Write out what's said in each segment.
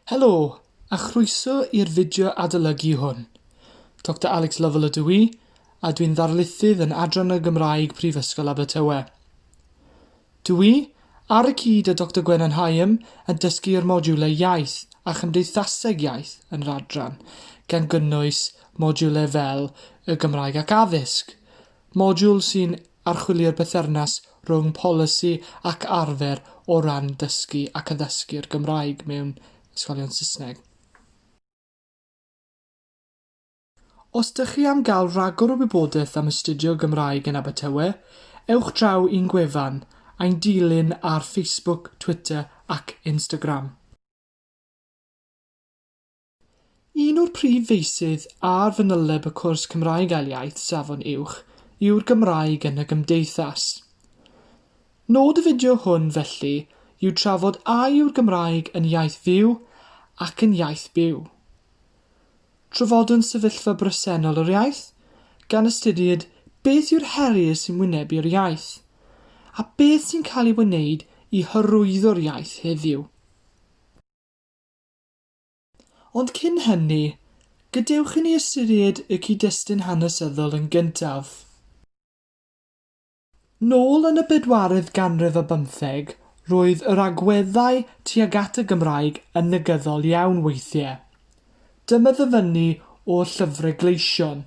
Helo, a chroeso i'r fideo adolygu hwn. Doctor Alex Lovell ydw i, a dwi'n ddarlithydd yn Adran y Gymraeg Prifysgol Abertawe. Dw i, ar y cyd â Doctor Gwenan Hyam, yn dysgu yr modiwlau Iaith a Chymdeithaseg Iaith yn yr adran, gan gynnwys modiwlau fel y Gymraeg ac Addysg, Modiwl sy'n archwilio'r berthynas rhwng polisi ac arfer o ran dysgu ac addysgu'r Gymraeg mewn ysgolion Saesneg. Os dych chi am gael rhagor o wybodaeth am astudio Gymraeg yn Abertawe, ewch draw i'n gwefan, ein dilyn ar Facebook, Twitter ac Instagram. Un o'r prif feysydd ar fanyleb y cwrs Cymraeg Ail Iaith Safon Uwch yw'r Gymraeg yn y Gymdeithas. Nod y fideo hwn, felly, yw trafod a yw'r Gymraeg yn iaith fyw ac yn iaith byw. Trafodwn sefyllfa bresennol yr iaith, gan ystyried beth yw'r heriau sy'n wynebu'r iaith, a beth sy'n cael ei wneud i hyrwyddo'r iaith heddiw. Ond cyn hynny, gadewch i ni ystyried y cyd-destun hanesyddol yn gyntaf. Nôl yn y bedwaredd ganrif ar bymtheg, roedd yr agweddau tuag at y Gymraeg yn negyddol iawn weithiau. Dyma ddyfynnu o Llyfre Gleision.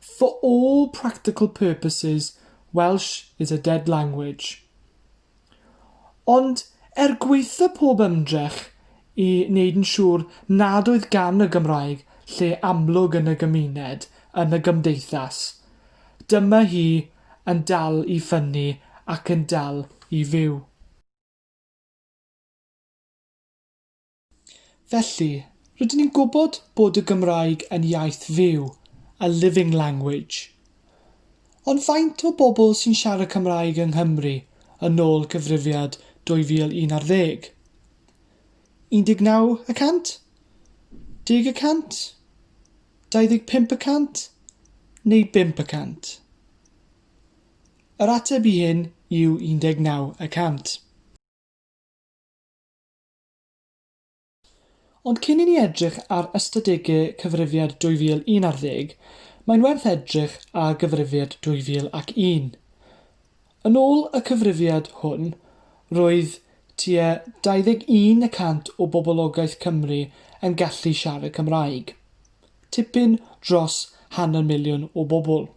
For all practical purposes, Welsh is a dead language. Ond er gwaetha pob ymdrech i wneud yn siŵr nad oedd gan y Gymraeg lle amlwg yn y gymuned, yn y gymdeithas, dyma hi yn dal i ffynnu ac yn dal i fyw. Felly, rydyn ni'n gwybod bod y Gymraeg yn iaith fyw, a living language. Ond faint o bobl sy'n siarad Cymraeg yng Nghymru yn ôl cyfrifiad 2011? 19 y cant? Deg y cant? 25 y cant? Neu bump y cant? Yr ateb i hyn yw 19 y cant. Ond cyn i ni edrych ar ystadegau Cyfrifiad 2011 ar ddeg, mae'n werth edrych ar Gyfrifiad 2001. Yn ôl y Cyfrifiad hwn, roedd tua 21 y cant o boblogaeth Cymru yn gallu siarad Cymraeg, tipyn dros hanner miliwn o bobl.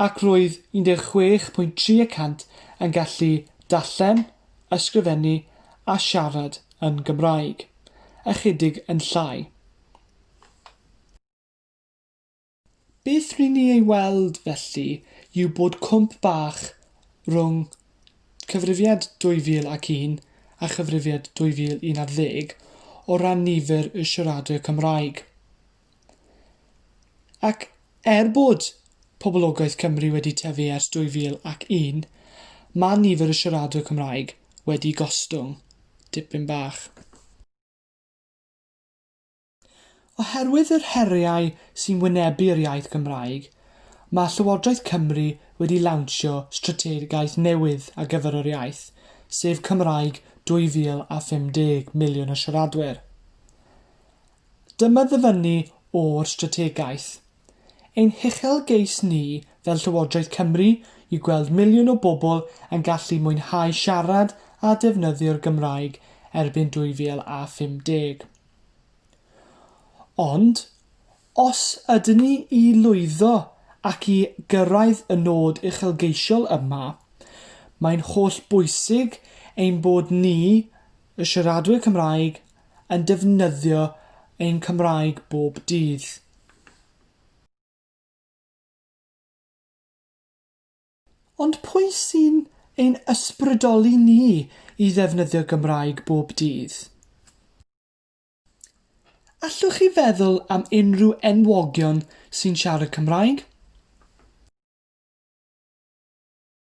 ac roedd 16.3 y cant yn gallu darllen, ysgrifennu a siarad yn Gymraeg, ychydig yn llai. Beth ry'n ni ei weld, felly, yw bod cwmp bach rhwng Cyfrifiad 2001 a Chyfrifiad 2011 o ran nifer y siaradwyr Cymraeg. Ac er bod poblogaeth Cymru wedi tyfu ers 2001, mae nifer y siaradwyr Cymraeg wedi gostwng dipyn bach. Oherwydd yr heriau sy'n wynebu yr iaith Gymraeg, mae Llywodraeth Cymru wedi lawnsio strategaeth newydd ar gyfer yr iaith, sef Cymraeg 2050 Miliwn o Siaradwyr. Dyma ddyfynnu o'r strategaeth. Ein huchelgeis ni fel Llywodraeth Cymru yw gweld miliwn o bobl yn gallu mwynhau siarad a defnyddio'r Gymraeg erbyn 2050. Ond, os ydyn ni i lwyddo ac i gyrraedd y nod uchelgeisiol yma, mae'n hollbwysig ein bod ni Y siaradwyr Cymraeg yn defnyddio ein Cymraeg bob dydd. Ond pwy sy'n ein ysbrydoli ni i ddefnyddio Gymraeg bob dydd? Allwch chi feddwl am unrhyw enwogion sy'n siarad Cymraeg?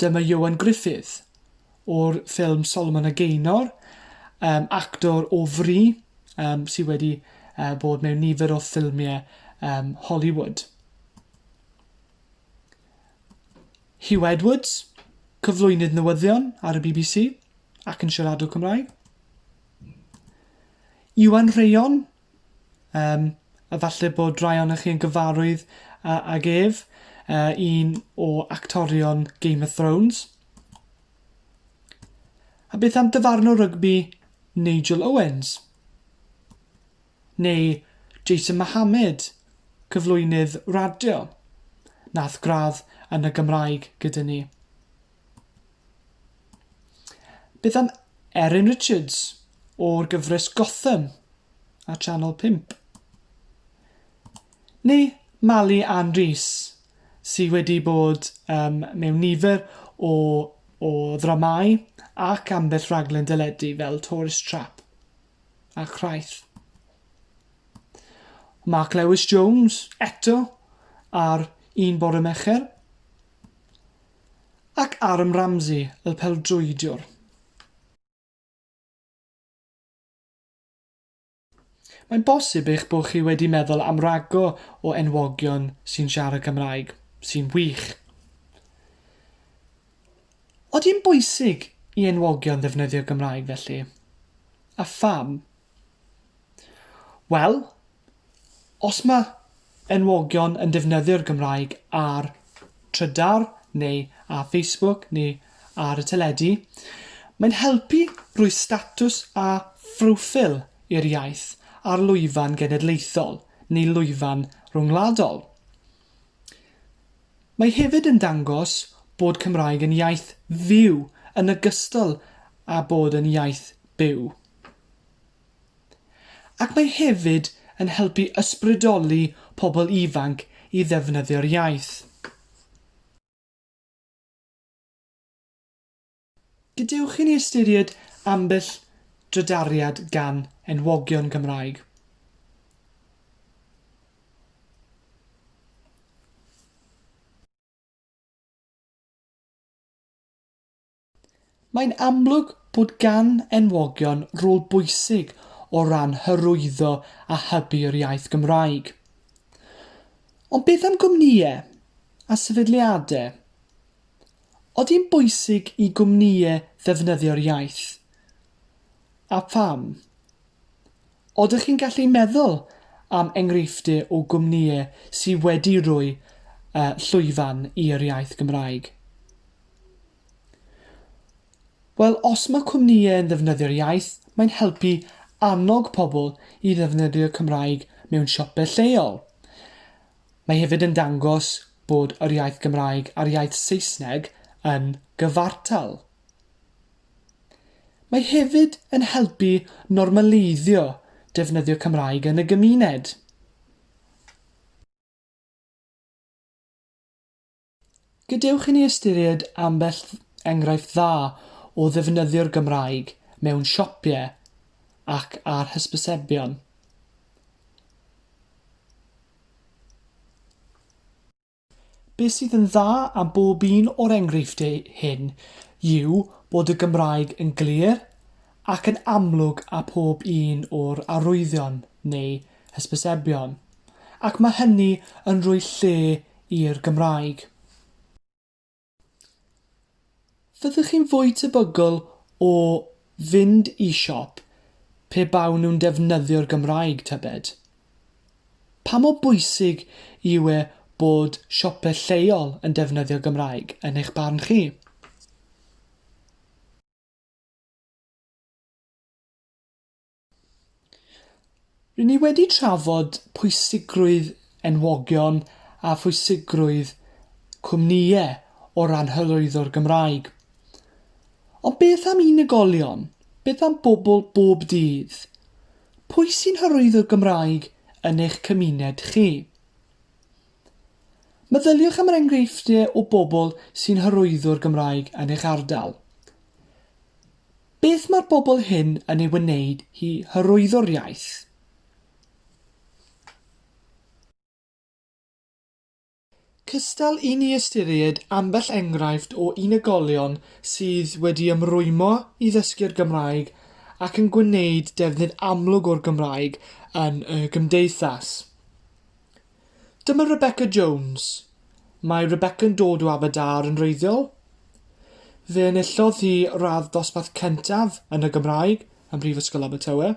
Dyma Ioan Gruffydd, o'r ffilm Solomon a Gaynor, um, actor o fri um, sydd wedi uh, bod mewn nifer o ffilmiau um, Hollywood. Hugh Edwards, cyflwynydd newyddion ar y BBC ac yn siaradwr Cymraeg. Iwan Rheon, Yym efalle bod rhai ohonoch chi yn gyfarwydd a- ag ef, yy un o actorion Game of Thrones. A beth am dyfarnwr rygbi Nigel Owens? Neu Jason Mohamed, cyflwynydd radio, nath gradd yn y Gymraeg gyda ni. Beth am Erin Richards o'r gyfres Gotham ar Channel 5? Neu Mali Ann Rees sydd wedi bod um, mewn nifer o, o ddramau ac ambell rhaglen deledu fel Tourist Trap a Chraith. Mark Lewis Jones eto ar un bore mecher. Ac Aaron Ramsey, y peldroediwr. Mae'n bosib eich bod chi wedi meddwl am rago o enwogion sy'n siarad Cymraeg, sy'n wych. Oeddi'n bwysig i enwogion ddefnyddio Gymraeg felly? A pham? Wel, Os mae enwogion yn defnyddio'r Gymraeg ar Trydar neu ar Facebook neu ar y teledu, mae'n helpu rhoi statws a phroffil i'r iaith ar lwyfan genedlaethol neu lwyfan rhyngwladol. Mae hefyd yn dangos bod Cymraeg yn iaith fyw yn ogystal â bod yn iaith byw. Ac mae hefyd yn helpu ysbrydoli pobl ifanc i ddefnyddio'r iaith. Gadewch i ni ystyried ambell drydariad gan enwogion Cymraeg. Mae'n amlwg bod gan enwogion rôl bwysig o ran hyrwyddo a hybu'r iaith Gymraeg. Ond beth am gwmnïau a sefydliadau? Ydi'n bwysig i gwmnïau ddefnyddio'r iaith? A pham? Oeddech chi'n gallu meddwl am enghreifftiau o gwmnïau sy wedi rhoi yy llwyfan i'r iaith Gymraeg? Wel, os mae cwmnïau yn ddefnyddio'r iaith, mae'n helpu annog pobl i ddefnyddio'r Cymraeg mewn siopau lleol. Mae hefyd yn dangos bod yr iaith Gymraeg a'r iaith Saesneg yn gyfartal. Mae hefyd yn helpu normaleiddio defnyddio Cymraeg yn y gymuned. Gadewch i ni ystyried ambell enghraifft dda o ddefnyddio'r Gymraeg mewn siopie ac ar hysbysebion. Be sydd yn dda am bob un o'r enghreifftiau hyn yw bod y Gymraeg yn glir ac yn amlwg â phob un o'r arwyddion, neu hysbysebion, ac mae hynny yn rhoi lle i'r Gymraeg. Fyddwch chi'n fwy tebygol o fynd i siop pe bawn nhw'n defnyddio'r Gymraeg, tybed? Pa mor bwysig yw e bod siopau lleol yn defnyddio Gymraeg, yn eich barn chi? Rydyn ni wedi trafod pwysigrwydd enwogion a phwysigrwydd cwmnïau o ran hyrwyddo'r Gymraeg. Ond beth am unigolion? Beth am bobl bob dydd? Pwy sy'n hyrwyddo'r Gymraeg yn eich cymuned chi? Meddyliwch am yr enghreifftiau o bobl sy'n hyrwyddo'r Gymraeg yn eich ardal. Beth mae'r bobl hyn yn ei wneud i hyrwyddo'r iaith? Cystal i ni ystyried ambell enghraifft o unigolion sydd wedi ymrwymo i ddysgu'r Gymraeg ac yn gwneud defnydd amlwg o'r Gymraeg yn y gymdeithas. Dyma Rebecca Jones. Mae Rebecca'n dod o Aberdâr yn wreiddiol. Fe enillodd hi radd dosbarth cyntaf yn y Gymraeg ym Mhrifysgol Abertawe.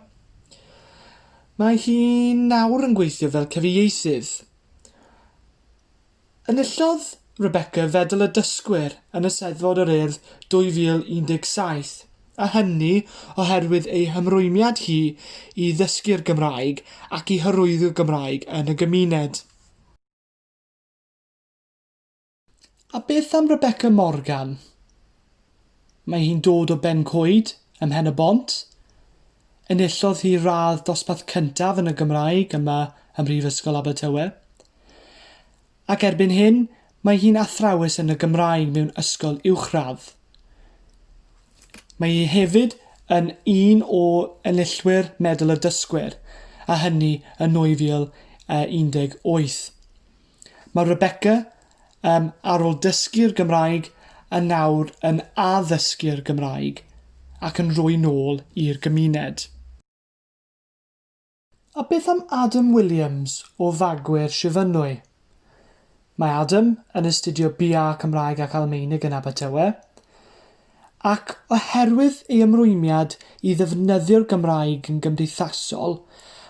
Mae hi nawr yn gweithio fel cyfieithydd. Enillodd Rebecca Fedal y Dysgwyr yn Eisteddfod yr Urdd 2017, a hynny oherwydd ei hymrwymiad hi i ddysgu'r Gymraeg ac i hyrwyddo Gymraeg yn y gymuned. A beth am Rebecca Morgan? Mae hi'n dod o Bencoed, ym Mhen-y-bont. Enillodd hi radd dosbarth cyntaf yn y Gymraeg yma ym Mhrifysgol Abertawe. Ac erbyn hyn, mae hi'n athrawes yn y Gymraeg mewn ysgol uwchradd. Mae hi hefyd yn un o enillwyr Medal y Dysgwyr, a hynny yn 2018. Mae Rebecca, um, ar ôl dysgu'r Gymraeg, yn nawr yn addysgu'r Gymraeg ac yn rhoi nôl i'r gymuned. A beth am Adam Williams o Fagwyr Shifynwy? Mae Adam yn astudio BA Cymraeg ac Almaenig yn Abertawe, ac oherwydd ei ymrwymiad i ddefnyddio'r Gymraeg yn gymdeithasol,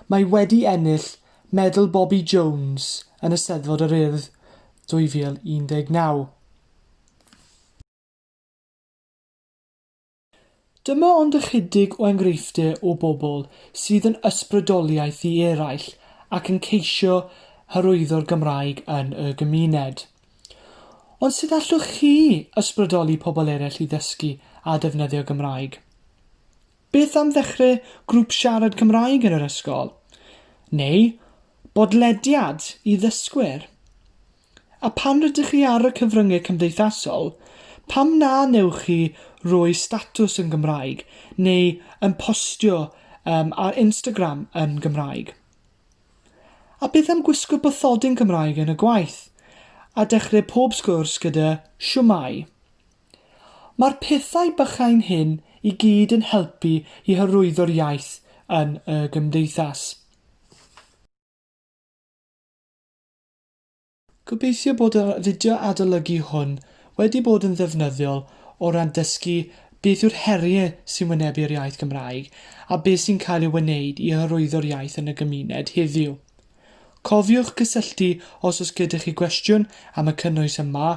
mae wedi ennill Medal Bobi Jones yn Eisteddfod yr Urdd 2019. Dyma ond ychydig o enghreifftiau o bobl sydd yn ysbrydoliaeth i eraill ac yn ceisio hyrwyddo'r Gymraeg yn y gymuned. Ond sut allwch chi ysbrydoli pobl eraill i ddysgu a defnyddio Gymraeg? Beth am ddechrau grŵp siarad Cymraeg yn yr ysgol? Neu bodlediad i ddysgwyr? A phan rydych chi ar y cyfryngau cymdeithasol, pam na wnewch chi roi statws yn Gymraeg neu yn postio um, ar Instagram yn Gymraeg? A beth am gwisgo bathodyn Cymraeg yn y gwaith, a dechrau pob sgwrs gyda Shwmae? Mae'r pethau bychain hyn i gyd yn helpu i hyrwyddo'r iaith yn y gymdeithas. Gobeithio bod yr fideo adolygu hwn wedi bod yn ddefnyddiol o ran dysgu beth yw'r heriau sy'n wynebu'r iaith Gymraeg a beth sy'n cael ei wneud i hyrwyddo'r iaith yn y gymuned heddiw. Cofiwch gysylltu os oes gyda chi gwestiwn am y cynnwys yma,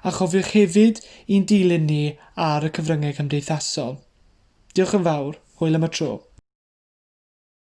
a chofiwch hefyd i'n dilyn ni ar y cyfryngau cymdeithasol. Diolch yn fawr, hwyl am y tro.